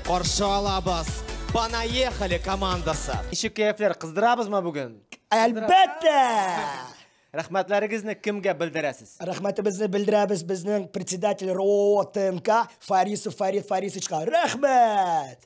Каршы алабыз. Понаехали командасы. Ничек кәефләр, кыздырабызмы бүген? Әлбәттә! Рәхмәтләрегезне кемгә белдерәсез? Рәхмәтебезне белдерәбез безнең председатель РОО ТНК Фарисов Фарид Фарисовичка. Рәхмәт!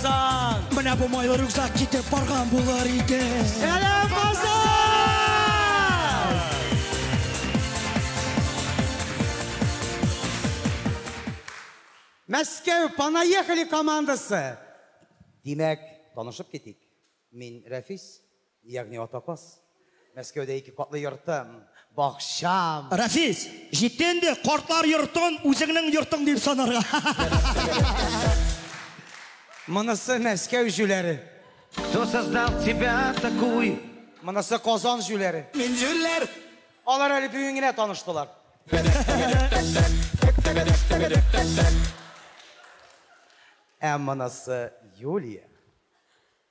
Сан! Менә бу майлы рюкзак китеп барган булыр иде. Сәлам, Казан! Мәскәү Понаехали командасы. Димәк, танышып китик. Мин Рәфис, Ягъни атапас. Мәскәүдә ике катлы йортым, бакчам. Рәфис, җитте инде, картлар йортын үзеңнең йортың дип санарга. Монысы Мәскәү җүләре. Кто создал тебя такую? Монысы Казан җүләре. Мин җүләр. Алар әле бүген генә таныштылар. Ә монысы Юлия.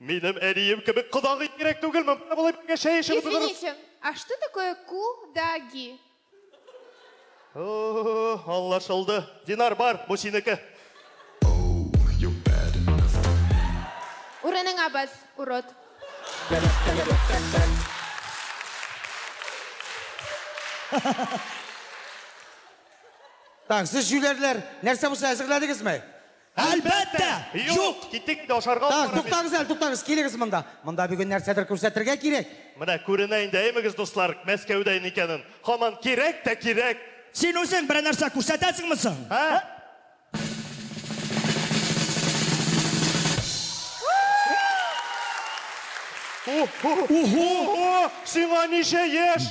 Минем әнием кебек кодагый кирәк түгел, мөмкин болай бергә чәй эчеп утырыр. Извините, а что такое кудаги? О, Аңлашылды. Динар бар, бу синеке. Урыныңа бас, урод. Так, сез җүләрләр, нәрсә булса әзерләдегезме? Әлбәттә! Юк! Киттек инде, ашарга алып барам. Туктагыз әле, туктагыз, килегез монда. Монда бүген нәрсәдер күрсәтергә кирәк. Менә күренә инде, әйемегез, дуслар, Мәскәүдә икәнен. Һаман кирәк тә кирәк! Син үзең берәр нәрсә күрсәтәсеңме соң? Ә? Уһу! Уһу! Сиңа ничә яшь?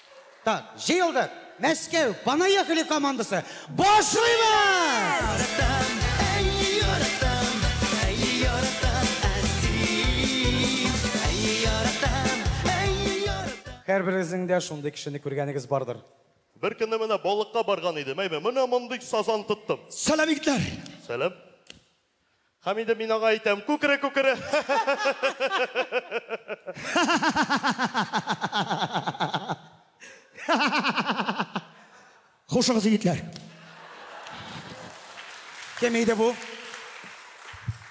Так, җыелдык! Мәскәү, понаехали командасы! Башлыйбыз! Һәрберегезнең дә шундый кешене күргәнегез бардыр. Бер көнне менә балыкка барган идем, әйме, менә мондый сазан тоттым. Сәлам, егетләр! Сәлам. Һәм инде мин аңа әйтәм, күкере, күкере! Хушыгыз, егетләр! Кем иде бу?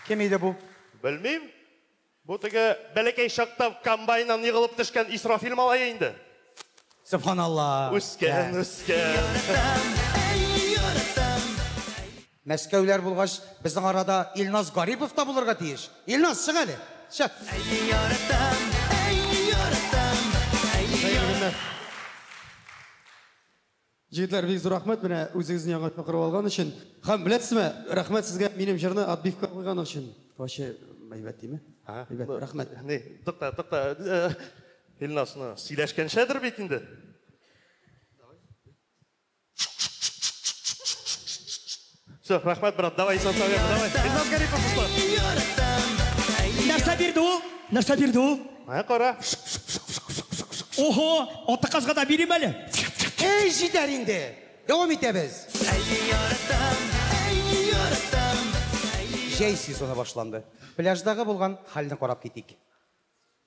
Кем иде бу? Белмим. Бу теге бәләкәй чакта комбайннан егылып төшкән Исрафил малае инде. Сөбханалла. Үскән, үскән. Мәскәүләр булгач, безнең арада Илназ Гарипов та булырга тиеш. Илназ, чык әле. Чык. Хәерле көннәр. Җегетләр, бик зур рәхмәт менә үзегезнең яңартма корып алган өчен. Һәм беләсезме, рәхмәт сезгә минем җырны отбивка куйган өчен. Ваче әйбәт диме? Әйбәт, рәхмәт. Ни, тукта, тукта. Илназ, ну, сөйләшкәнчәдер бит инде. Все, рахмәт, брат, давай, Исан Савия, давай. Илназ Гарипов, Руслан. Нәрсә бирде ул? Нәрсә бирде ул? Ә, кара. Ого, аты казга да бирим әле. Эй, җитәр инде. Дәвам итәбез. Җәй сезоны башланды. Пляждагы булган хәлне карап китик.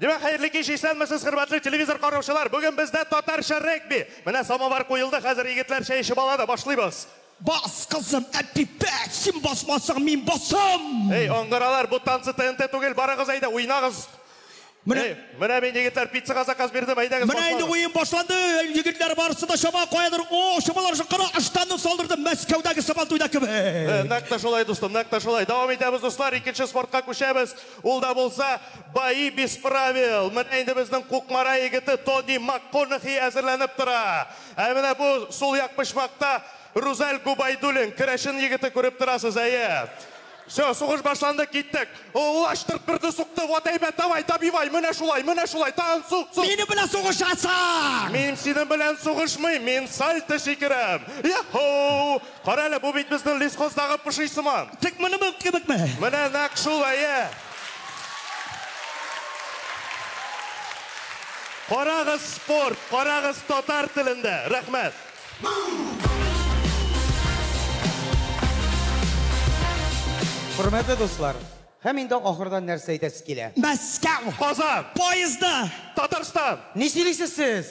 Димәк, хәерле кич, исәнмесез, хөрмәтле телевизор караучылар! Бүген бездә татарча регби! Менә самовар куелды, хәзер егетләр чәй эчеп алады, башлыйбыз! Бас, кызым, Әпипә, син басмасаң, мин басам! Эй, аңгыралар, бу танцы ТНТ түгел, барыгыз әйдә, уйнагыз! Менә. Эй, менә мин, егетләр, пиццага заказ бирдем, әйдәгез, Менә инде башлагыз! уен башланды, әй, егетләр, барысы да чаба, каядыр, о, чабалар шул, кара, ыштанны салдырды, Мәскәүдәге Сабантуйда Э, кебек! нәкъ тә шулай, дустым, нәкъ тә шулай! Дәвам итәбез, дуслар, икенче спортка күчәбез! Ул да булса, бои без правил. Менә инде безнең Кукмара егете Тони Макконахи әзерләнеп тора. Ә менә бу сул як почмакта Рузәл Губайдуллин, керәшен егете, күреп торасыз, әйе. Всё, сугыш башланды, киттек. Ул ачтырт берне сукты, вот әйбәт, давай, добивай, менә шулай, менә шулай, тагын сук, сук! Минем белән сугышасың! Мин синең белән сугышмыйм, мин сальто сикерәм! Йа-һоу! Карале, бу бит безнең лесхоздагы поши сыман. Тик монымын кебекме? Менә нәкъ шул, әйе. Карагыз спорт, карагыз татар телендә. Рәхмәт. Хөрмәтле дуслар, һәм инде ахырдан нәрсә әйтәсе килә? Мәскәү. Казан. Поездда. Татарстан. Ни сөйлисез сез?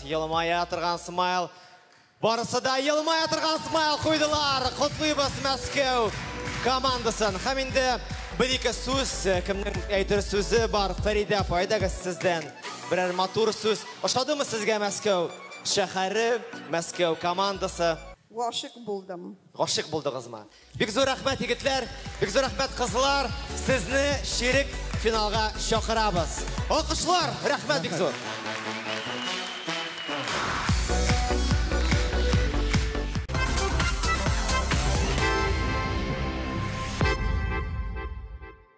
Елмая торган смайл. Барысы да елмая торган смайл куйдылар. Котлыйбыз Мәскәү командасын. Һәм инде бер-ике сүз, кемнең әйтер сүзе бар? Фәридә апа, әйдәгез сездән берәр матур сүз. Ошадымы сезгә Мәскәү шәһәре, Мәскәү командасы? Гашыйк булдым. Гашыйк булдыгызмы? Бик зур рәхмәт егетләр, бик зур рәхмәт кызлар, сезне чирек финалга чакырабыз. Алкышлар, рәхмәт бик зур.